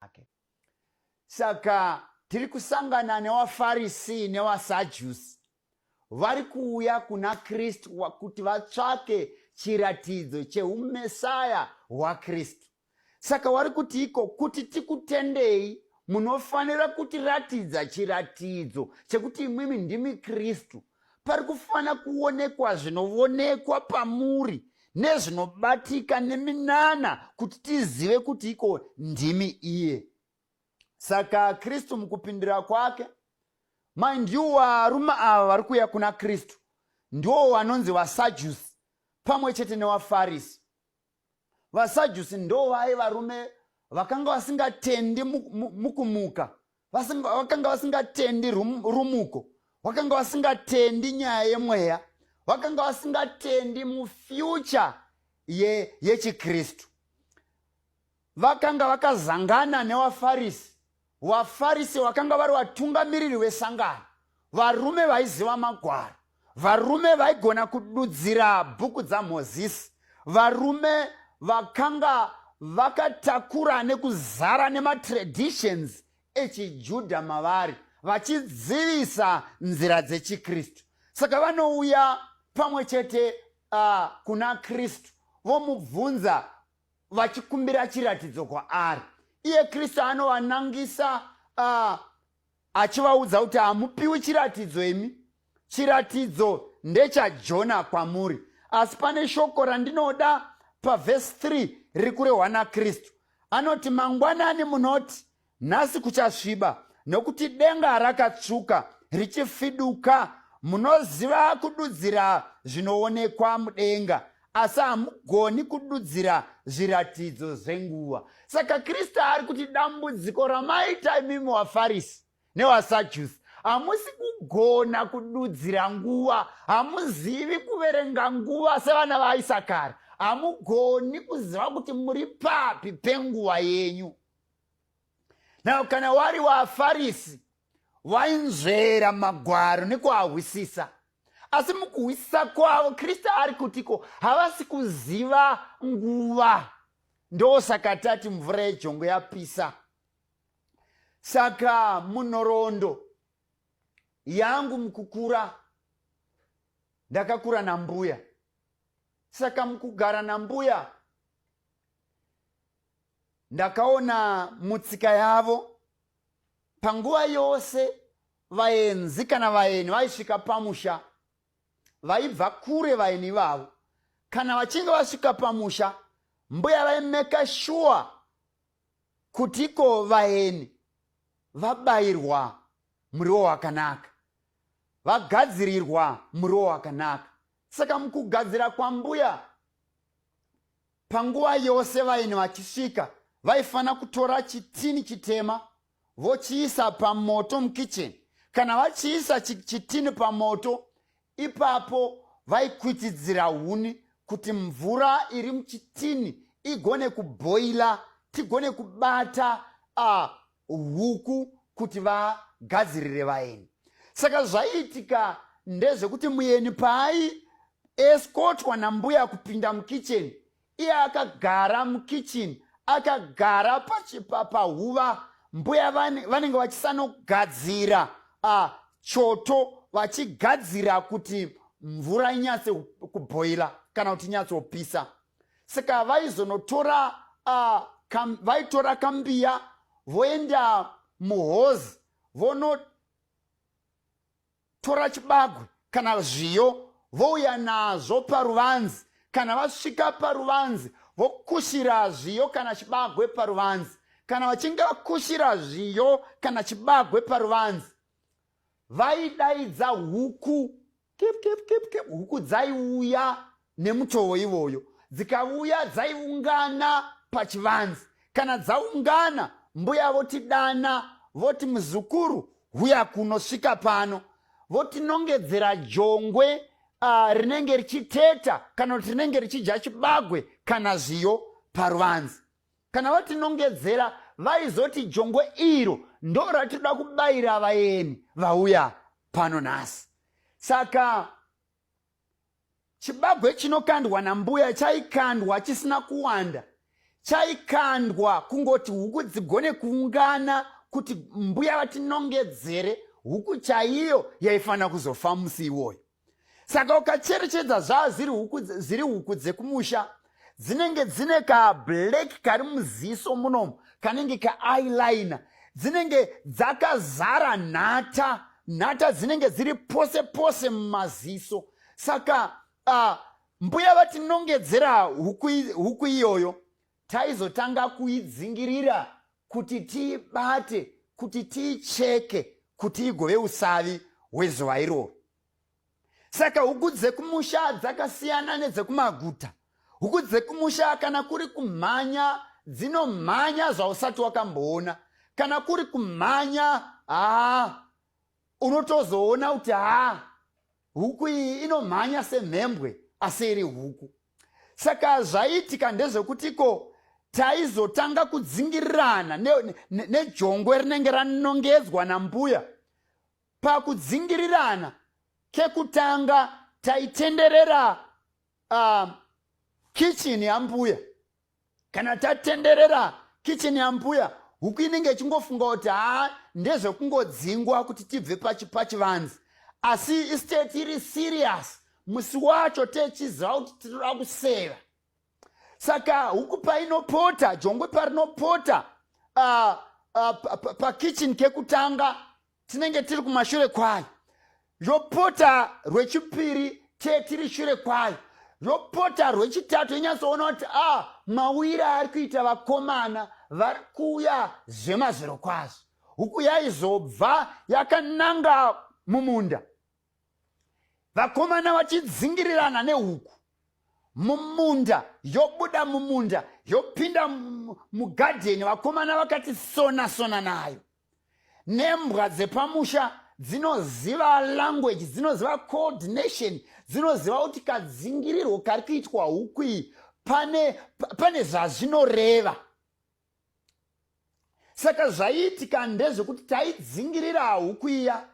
ake. Saka tiri kusangana newaFarisi newaSajusi vari kuuya kuna Kristu kuti vatsvake chiratidzo cheumesaya hwaKristu. Saka wari kuti iko kuti tikutendei munofanira kutiratidza chiratidzo chekuti imwimi ndimi Kristu pari kufanira kuonekwa zvinovonekwa pamuri nezvinobatika neminana kuti tizive kuti iko ndimi iye saka kristu mukupindira kwake mind you varume ava vari kuuya kuna kristu ndiwo vanonzi vasajusi pamwe chete newafarisi vasajusi ndovaye varume vakanga vasingatendi mukumuka vakanga vasingatendi rumuko vakanga vasingatendi nyaya yemweya vakanga vasingatendi mufyucha yechikristu Vakanga vakazangana newaFarisi. WaFarisi wakanga vari watungamiriri wesangano, varume vaiziva magwaro, varume vaigona kududzira bhuku dzaMozisi, varume vakanga vakatakura nekuzara nematraditions echiJudha mavari vachidzivisa nzira dzechikristu saka vanouya pamwe chete uh, kuna kristu vomubvunza vachikumbira chiratidzo kwaari iye kristu anovanangisa uh, achivaudza kuti hamupiwi chiratidzo imi chiratidzo ndechajona kwamuri asi pane shoko randinoda pavhesi 3 riri kurehwa nakristu anoti mangwanani munoti Nhasi kuchasviba nokuti denga rakatsvuka richifiduka. Munoziva kududzira zvinoonekwa mudenga asi hamugoni kududzira zviratidzo zvenguva. Saka Kristu ari kuti dambudziko ramaita imimi waFarisi newaSajusi hamusi kugona kududzira nguva hamuzivi kuverenga nguva sevana vaisakara hamugoni kuziva kuti muri papi penguva yenyu now kana wari wafarisi wainzvera magwaro nekuahwisisa asi mukuhwisisa kwavo kristu ari kutiko havasi kuziva nguva ndosaka tati mvura yejongo yapisa saka munhorondo yangu mukukura ndakakura nambuya saka mukugara nambuya ndakaona mutsika yavo panguva yose vaenzi kana vaeni vaisvika pamusha vaibva kure vaeni vavo kana vachinge vasvika pamusha mbuya vaimeka shuwa kuti iko vaeni vabayirwa muriwo wakanaka vagadzirirwa muriwo wakanaka saka mukugadzira kwambuya Panguva yose vaeni vachisvika vaifanira kutora chitini chitema vochiisa pamoto mukicheni. Kana vachiisa chitini pamoto, ipapo vaikwitidzira huni kuti mvura iri muchitini igone kubhoila, tigone kubata uh, huku kuti vagadzirire vaeni saka zvaiitika ndezvekuti muyeni paai eskotwa nambuya kupinda mukitchen iye akagara mukitchen akagara pahuva pa, mbuya vanenge vachisanogadzira uh, choto vachigadzira kuti mvura inyatse kubhoila kana kuti inyatsopisa saka vaizonotora uh, kam, vaitora kambiya voenda muhozi vonotora chibagwe kana zviyo vouya nazvo paruvanzi kana vasvika paruvanzi vokushira zviyo kana chibagwe paruvanzi kana vachinge vakushira zviyo kana chibagwe paruvanzi vaidaidza huku Kip, kip, kip, kip. Huku dzaiuya nemutowo ivoyo, dzikavuya dzaiungana pachivanzi. Kana dzaungana, mbuya votidana voti, muzukuru, huya kuno, svika pano. Votinongedzera jongwe uh, rinenge richiteta kana kuti rinenge richidya chibagwe kana zviyo paruvanzi. Kana vatinongedzera vaizoti jongwe iro ndo ratinoda kubayira vayeni vauya pano nhasi. Saka chibagwe chinokandwa nambuya chaikandwa chisina kuwanda chaikandwa kungoti huku dzigone kuungana kuti mbuya vatinongedzere huku chaiyo yaifanira kuzofa musi iwoyo saka ukacherechedza zvaa ziri huku ziri huku dzekumusha dzinenge dzine kablack kari muziso munomu kanenge kaeyeliner dzinenge dzakazara nhata nhata dzinenge dziri pose pose mumaziso saka uh, mbuya vatinongedzera huku iyoyo taizotanga kuidzingirira kuti tiibate kuti tiicheke kuti igove usavi hwezuva iroro saka huku dzekumusha dzakasiyana nedzekumaguta huku dzekumusha kana kuri kumhanya dzinomhanya zvausati wakamboona kana kuri kumhanya haa unotozoona kuti haa huku iyi inomhanya semhembwe asi iri huku saka zvaiitika ndezvekuti ko taizotanga kudzingirirana nejongwe ne, ne rinenge ranongedzwa nambuya pakudzingirirana kekutanga taitenderera uh, kitchen yambuya kana tatenderera kicheni yambuya huku inenge ichingofunga kuti haa ndezvekungodzingwa kuti tibve pachivanzi asi isteti iri siriyasi musi wacho techiziva kuti tinoda kuseva saka huku painopota jongwe parinopota uh, uh, pakitchen kekutanga tinenge tiri kumashure kwayo yopota rwechipiri te tiri shure kwayo yopota rwechitatu inyatsoona kuti a ah, mawira ari kuita vakomana vari kuuya zvemazviro kwazvo huku yaizobva yakananga mumunda vakomana vachidzingirirana nehuku mumunda yobuda mumunda yopinda mugadheni vakomana vakati sona sona nayo nembwa dzepamusha dzinoziva language dzinoziva coordination dzinoziva kuti kadzingirirwo kari kuitwa huku iyi pane, pane zvazvinoreva saka zvaiitika ndezvekuti taidzingirira huku iya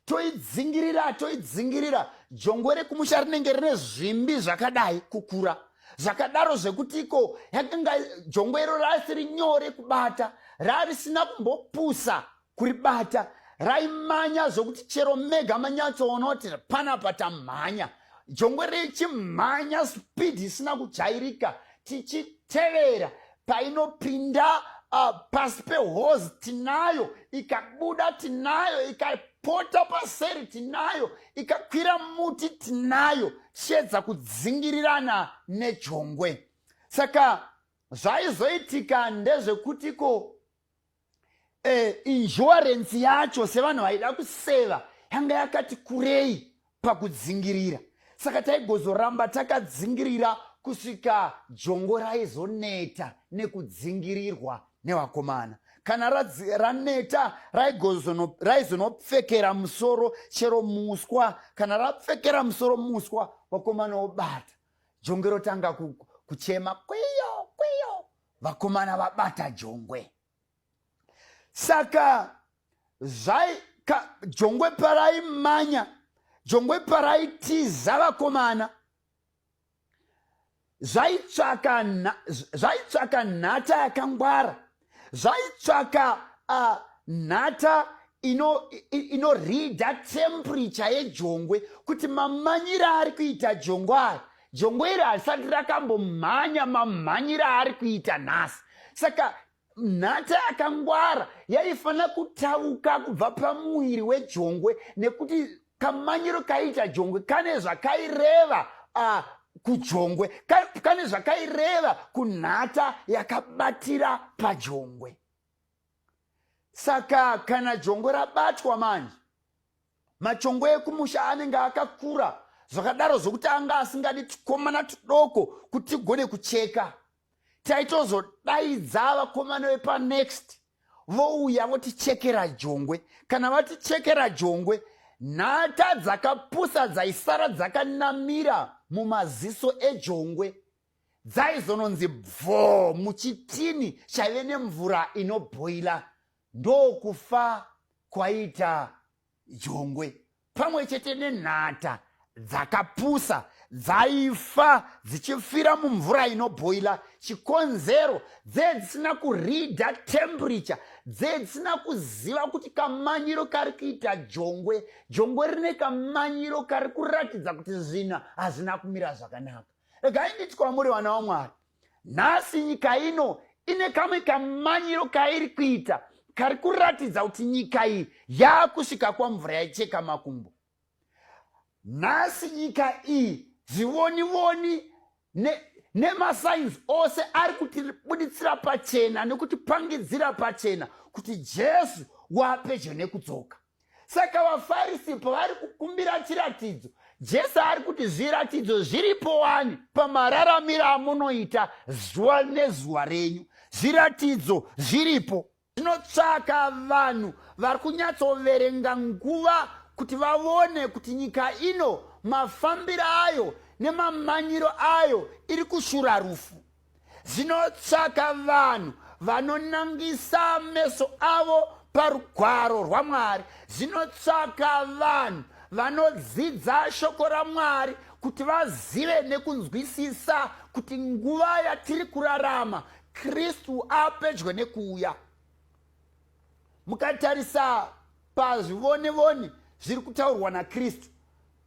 toidzingirira toidzingirira jongwe rekumusha rinenge rine zvimbi zvakadai kukura zvakadaro zvekuti iko yakanga jongwe iro raasiri nyore kubata raarisina kumbopusa kuribata raimanya zvokuti chero mega manyatsoona kuti panapa tamhanya jongwe richimhanya spidi isina kujairika tichitevera painopinda uh, pasi pehozi tinayo ikabuda tinayo ikapota paseri tinayo ikakwira muti tinayo tichiedza kudzingirirana nejongwe saka zvaizoitika ndezvekutiko eh, insurance yacho sevanhu vaida kuseva yanga yakati kurei pakudzingirira saka taigozoramba takadzingirira kusvika jongo raizoneta nekudzingirirwa nevakomana kana raneta raizonopfekera musoro chero muswa kana rapfekera musoro muswa vakomana obata jongo rotanga kuchema kwiyo kwiyo vakomana vabata jongwe saka zvai ka, jongwe paraimanya jongwe paraitiza vakomana zvaitsvaka zvaitsvaka nhata yakangwara zvaitsvaka uh, nhata inorida ino temperature yejongwe kuti mamanyira ari kuita jongwe aya jongo iri harisati rakambomhanya mamhanyira aari kuita nhasi saka nhata yakangwara yaifanira kutauka kubva pamuviri wejongwe nekuti kamanyiro kaiita jongwe kane zvakaireva uh, kujongwe kane zvakaireva kunhata yakabatira pajongwe saka kana jongwe rabatwa manje Machongo ekumusha anenge akakura zvakadaro zvokuti anga asingadi tukomana tudoko kuti tigone kucheka. Taitozodaidza vakomana vepanext vouya votichekera jongwe. Kana vatichekera jongwe, nhata dzakapusa dzaisara dzakanamira mumaziso ejongwe dzaizononzi bvoo muchitini chaive nemvura inobhoila Ndokufa kwaita jongwe pamwe chete nenhata dzakapusa dzaifa dzichifira mumvura inobhoila chikonzero dzee dzisina kurida temperature dzee dzisina kuziva kuti kamanyiro kari kuita jongwe jongwe rine kamanyiro kari kuratidza kuti zvina hazvina kumira zvakanaka regai nditi kwamuri vana vamwari nhasi nyika ino ine kamwe kamanyiro kairi kuita kari kuratidza kuti nyika iyi yaakusvika kwamvura yaicheka makumbo nhasi nyika iyi zvivonivoni nemasainzi ne ose ari kutibuditsira pachena nekutipangidzira pachena kuti jesu waapedyo nekudzoka saka vafarisi pavari kukumbira chiratidzo jesu ari kuti zviratidzo zviripo wani pamararamiro amunoita zuva nezuva renyu zviratidzo zviripo zvinotsvaka vanhu vari kunyatsoverenga nguva kuti vavone kuti nyika ino mafambiro ayo nemamanyiro ayo iri kushura rufu Zvinotsvaka vanhu vanonangisa meso avo parugwaro rwaMwari. Zvinotsvaka vanhu vanodzidza shoko raMwari kuti vazive nekunzwisisa kuti nguva yatiri kurarama Kristu apedyo nekuuya. Mukatarisa pazvivone-vone zviri kutaurwa naKristu,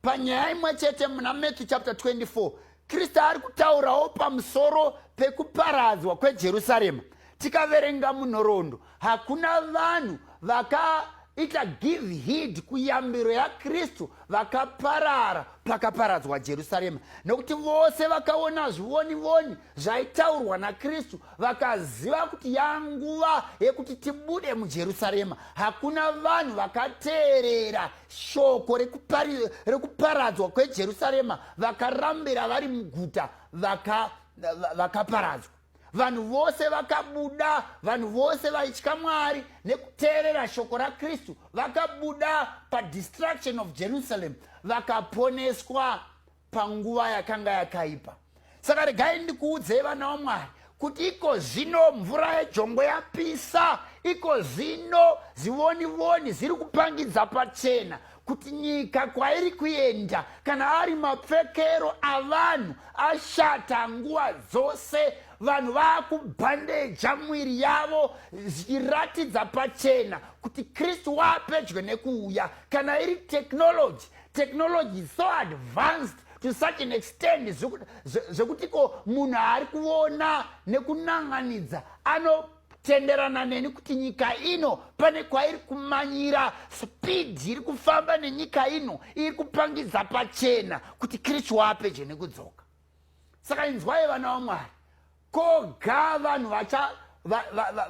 Panyaya imwe chete muna Matthew chapter 24, Kristu ari kutaurawo pamusoro pekuparadzwa kweJerusarema. Tikaverenga munhoroondo, hakuna vanhu vakaita give heed kuyambiro yaKristu vakaparara pakaparadzwa Jerusarema, nokuti vose vakaona zvivoni voni zvaitaurwa nakristu vakaziva kuti yanguva yekuti tibude mujerusarema hakuna vanhu vakateerera shoko rekuparadzwa kwejerusarema vakarambira vari muguta vakaparadzwa vanhu vose vakabuda vanhu vose vaitya mwari nekuteerera shoko rakristu vakabuda padistruction of jerusalem vakaponeswa panguva yakanga yakaipa saka regai ndikuudzei vana wamwari kuti iko zvino mvura yejongwe yapisa iko zvino zivonivoni ziri kupangidza pachena kuti nyika kwairi kuenda kana ari mapfekero avanhu ashata nguva dzose vanhu vaakubhandeja mwiri yavo zvichiratidza pachena kuti kristu waapedyo nekuuya kana iri teknoloji technology is so advanced to such an extend zvekuti ko munhu ari kuona nekunan'anidza anotenderana neni kuti nyika ino pane kwairi kumanyira speed iri kufamba nenyika ino iri kupangidza pachena kuti kristu waapedyo nekudzoka saka inzwai vana vamwari koga vanhu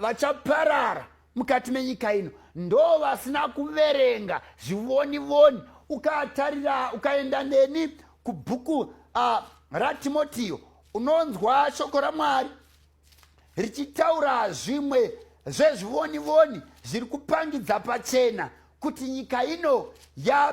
vachaparara mukati menyika ino ndo vasina kuverenga zvivoni voni ukatarira ukaenda neni kubhuku uh, ratimotiyo unonzwa shoko ramwari richitaura zvimwe zvezvivoni voni zviri kupangidza pachena kuti nyika ino ya